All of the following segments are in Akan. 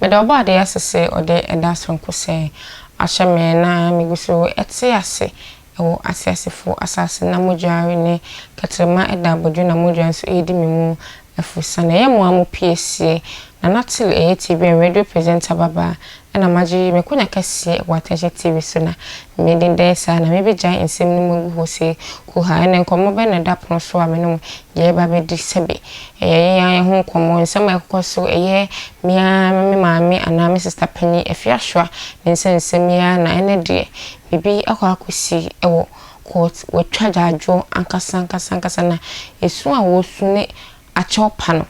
Meda Ɔbɔadeɛ ase sɛ ɔde ɛda soronko sɛɛ ahyɛ me na migu so te ase wɔ ateasefo asase na mogya renne kɛtrɛma da abodwo na mogya nso redi me mu afurusa. Na ɛyɛ mo ara mo piesie, Nana Till ɛyɛ TV and radio presenter babaa Ɛna magye me konya kɛseɛ wɔ Atɛkyɛ TV so na me din dɛɛ saa na me bɛgyae nsɛm no mu agu hɔ sei, huhaa ɛnɛ nkɔmmɔ bɛn na ɛda pono so a me ne mo yɛɛba abɛdi, sɛbe ɛyɛ yɛn ara yɛn ho nkɔmmɔ, nsɛm a ɛkokɔ so, ɛyɛ me ara me maame anaa me sista panin Afiasoa ne nsa nsɛm yi ara na ɛnɛ deɛ biribi akɔ akɔsi wɔ court, wɔatwa agyaadwoɔ ankasa ankasa ankasa na ɛsu a wɔresu ne akyɛw pa no,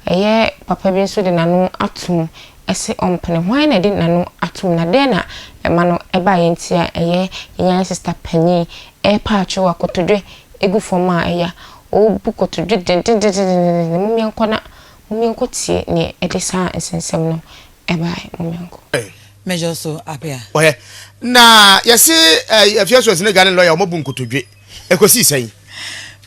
ɛyɛ papa bi nso de n'ano atom se ɔmpene. Hwan na ɛde n'ano atom, na dɛn na ɛma no ba yɛn ti a ɛyɛ yan? Sista panyin repa akyɛw a kotodwe gu fam a ɛya. Ɔrebu kotodwe dendendendendendendendenn. Mom yɛnkɔ na mom yɛnkɔ tie nea ɛde saa nsɛnsɛm no bae. Mom yɛnkɔ. Mejor so apea. Ɔyɛ na yɛse eh, afiasuas ne gane lɔya ɔmɔbu nkotodwe. Ɛkɔsii sɛn?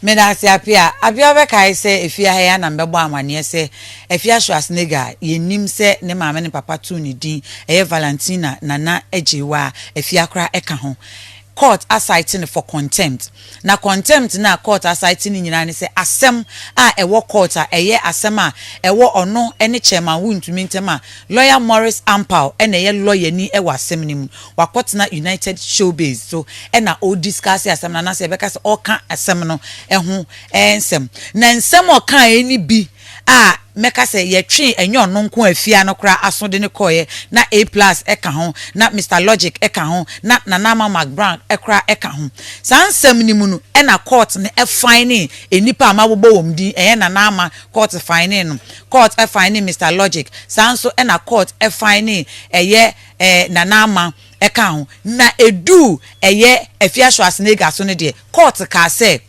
Meda ase, Apia. Apia wobɛkae sɛ Afia ha yi ara na mebɛbɔɔ amanneɛ sɛ Afia Schwarzenegger a yenim sɛ ne maame ne papa too ne din ɛyɛ Valentina Nana Agyeiwa a Afia koraa ka ho, kɔɔt asite no for contempt. Na contempt no a kɔɔt asite no nyinaa ne sɛ asɛm a ɛwɔ kɔɔt a ɛyɛ asɛm a ɛwɔ ɔno ne Chairman Wontumi ntam a lɔya Morris Ampaw na ɛyɛ lɔyani wɔ asɛm no mu wakɔtena United Showbiz so na ɔrediscuss asɛm no anaasɛ yɛbɛka sɛ ɔreka asɛm no ho nsɛm. Na nsɛm a ɔkaeɛ no bi a mɛka sɛ yɛtwee ɛnyɛ ɔno nko a fie ha no koraa aso de no kɔeɛ, na A-Plus ka ho, na Mister Logic ka ho, na Nana Ama Mac Brown koraa ka ho. Saa nsɛm no mu no na court no finee nnipa a mabobɔ wɔn din, ɛyɛ Nana Ama, court finee no, court finee Mister Logic, saa ara nso na court finee ɛyɛ Nana Ama kaa ho, na ɛduu ɛyɛ Afia Schwarzenegger so no deɛ, kɔɔto kaa sɛ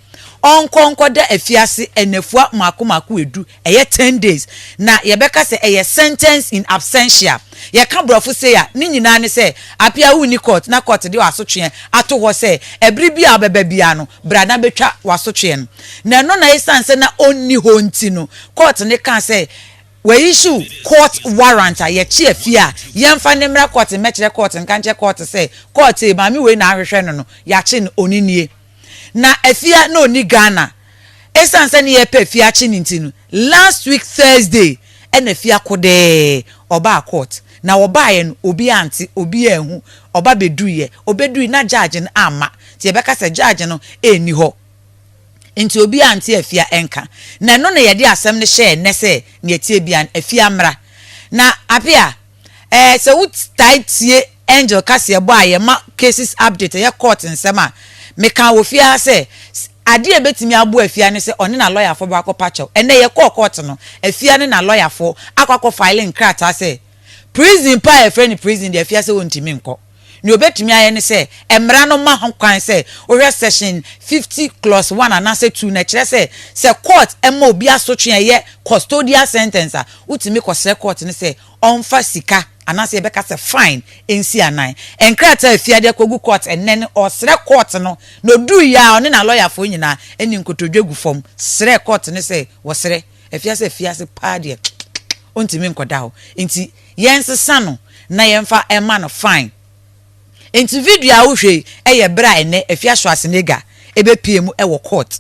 ɔnkɔ nkɔda afiase nnafua mmaako mmaako ɛdu, ɛyɛ ten days, na yɛbɛka sɛ ɛyɛ sentence in absentia. Yɛka borɔfo sei a, ne nyinaa ne sɛ, Apia wonni kɔɔto na kɔɔto de w'asotweɛ ato hɔ sɛ ɛbere biara a wobɛba biara no, bra na bɛtwa w'asotweɛ no. Na ɛno na ɛsiane sɛ na ɔnni hɔ nti no, kɔɔto no kaa sɛ, W'ayisuu court warrant a yɛkye afie a yɛnfa no mmra court mmɛkyerɛ court nka nkyerɛ court sɛ court ee maame wei na ahwehwɛ no no yɛakye no ɔne nie na afie a na ɔnni Ghana ɛsiane sɛ ne yɛrepɛ afie akye no nti no last week Thursday ɛna afie akodɛɛ ɔbaa court na ɔbaeɛ no obiara ante obiara anhu ɔba bɛduiɛ ɔbɛdui na judge no amma nti yɛbɛka sɛ judge no ɛnni hɔ Enti obiara nte afia nka. Na ɛno na yɛde asɛm no hyɛɛ nnɛ sɛ nea ɛteɛ biara no, afia mmra. Na Apia, eh, sɛ wotae tie Angel kaseɛbɔ a yɛma cases update, ɛyɛ court nsɛm a, mekaa wɔ fie ha sɛ, adeɛ a ɛbɛtumi aboa afia ne sɛ ɔne na lɔyafoɔ bɛkɔ akɔpa kyɛw. Ɛnnɛ yɛkɔɔ court no, afia ne na lɔyafoɔ akɔ akɔ file nkrataa sɛ, prison pa a yɛfrɛ no prison deɛ afia sɛ ɔntumi nkɔ. Nea obetumi ayɛ ne sɛ mmara no ma ho kwan sɛ wohwɛ Section fifty clause one anaasɛ two no. Ɛkyerɛ sɛ, sɛ kɔɔt ma obi asotwe a ɛyɛ custodial sentence a, wotumi kɔsrɛ kɔɔt no sɛ ɔmfa sika anaasɛ yɛbɛka sɛ fine nsi anan. Nkrataa a efi ade akogu kɔɔt nnɛ no, ɔsrɛ kɔɔt no na oduui a ɔne n'alɔyafoɔ nyinaa ne nkotodwe gu fam srɛ kɔɔt no sɛ wɔsrɛ Afiase afiase paa deɛ ɔntumi nkɔda hɔ nti yɛnsesa no na yɛmfa ɛma no fine. Nti video a wohwɛ yi ɛyɛ berɛ a ɛnɛ Afiasoa Senega ɛbɛpie mu ɛwɔ court.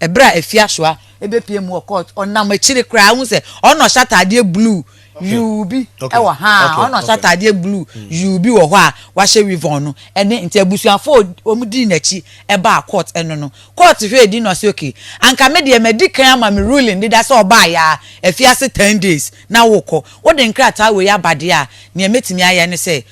Ɛberɛ a Afiasoa ɛbɛpie mu wɔ court ɔnam akyire koraa wohu sɛ ɔno na ɔhyɛ ataadeɛ blue yuu bi wɔ ha a ɔna ɔhyɛ ataadeɛ blue yuu bi wɔ hɔ a wahyɛ weavon no ɛne nti abusuafo wɔn dii n'akyi ɛbaa court ɛno no court hwɛɛ din na ɔsɛ okay anka me deɛ madi kan ama me ruling deda sɛ ɔbaa yaa afi ase ten days na wokɔ wode nkrataa wei aba deɛ a nea mɛtumi ayɛ ne sɛ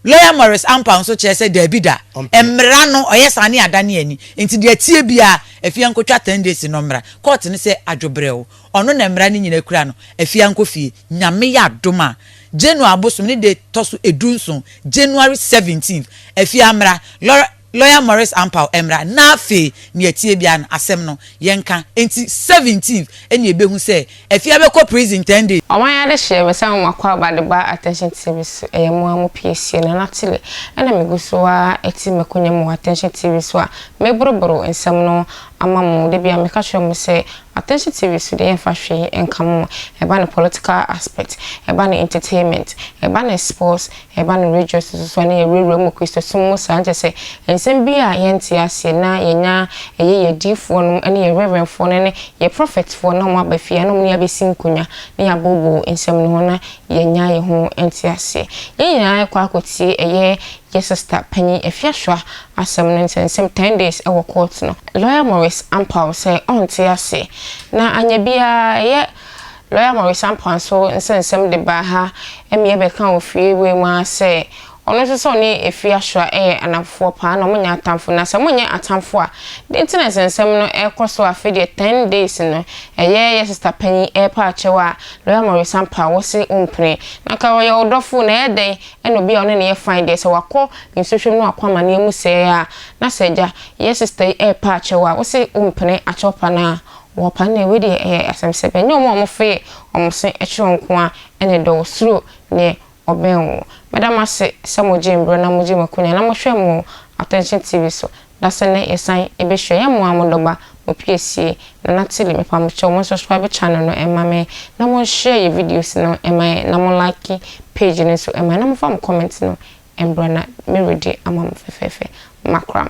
Lawyer Maurice Ampaw nso kyerɛ sɛ daabi da, mmara no ɔyɛ saa ne adane ani, nti deɛ ɛteɛ biara Afia nkɔtwa ten days no mmra court no sɛ adwo brɛoo, ɔno na mmara no nyina kura no, Afia nkɔ fie. Nyame yɛ adom a, January abosom ne da ɛtɔ so ɛdu nson, January 17th, Afia mmra, Lawyer. Lawyer Maurice Ampaw mmra na afei nea ɛteɛ biara no asɛm no yɛnka enti seventeenth ɛna yɛbɛhu sɛ Afia bɛkɔ prison ten days. Ɔman adehyeɛ bɛsɛ wɔn akwaaba de ba Attention TV so ɛyɛ mo ara mo piesie Nana Tilly ɛna me gu so ara te makonya mu wɔ Attention TV so a me boro boro nsɛm no ama mo da biara meka kyerɛ mo sɛ Attention TV so deɛ yɛn fa hwee nka mo ɛba ne political aspect ɛba ne entertainment ɛba ne sports Ɛba no rejoice nso so a na yɛwurawura mu Kristosom mu saa nkyɛ sɛ nsɛm bi a yɛnte aseɛ na yɛnya ɛyɛ yɛ adiyifoɔ nom ne yɛ reverend foɔ no ne yɛ prophet foɔ na wɔn aba fie a na wɔn ne yɛ abɛsi nkonya na yɛaboobo nsɛm no ho na yɛanya yɛ ho nte aseɛ yɛn nyinaa ɛkɔ akɔ tie ɛyɛ yɛ sister panyin Afiaswa asɛm no nsɛnsɛm ten days ɛwɔ court no lawyer Morris ampaw sɛ ɔnte aseɛ na anyɛ biara ɛyɛ Bere a Maurice Ampua so nsɛnsɛm de baa ha mmea bɛka wɔ fie wei mu ara sɛ ɔno nso sɛ ɔne Efie Ashoa yɛ anamfofoɔ paa na wɔnyɛ atamfo na sɛ monyɛ atamfo a den nti na nsɛnsɛm no rekɔ so a afei deɛ ten days no ɛyɛ yɛ sista panyin repɛ akyɛw a Lawyer Maurice Ampua wo se wo mpene na nka ɔyɛ wo dɔfo na ɛyɛ dɛn ɛna obi a wo ne no yɛ fine deɛ sɛ wakɔ nsuhwem na wakɔ amaneɛ mu sɛɛ a na sɛ agya yɛ sista yi repɛ akyɛw a wo se wo mpene akyɛw pa no a Wɔpa nea wei deɛ ɛyɛ asɛm sɛ bɛnyɛ wɔn a wɔfee wɔn se kyerɛ wo nko ara na ɛdɔ wo, suro neɛ ɔbɛn wo. Mɛda mo ase sɛ mo gyee mberɛ na mo gyee mo akonya na mo hwɛɛ mo wɔ Attention TV so, na sɛ nnɛ yɛ san bɛ hyira yɛ mo ara mo dɔba Opiesie, Nana Tilly, me pa mo kyɛw mo subscribe channel no mma me na mo nhyɛ yɛ videos no mma yɛn na mo like page no nso mma yɛn na mo fa mo comment no mbra na me redi ama mo fɛfɛɛfɛ. Makram.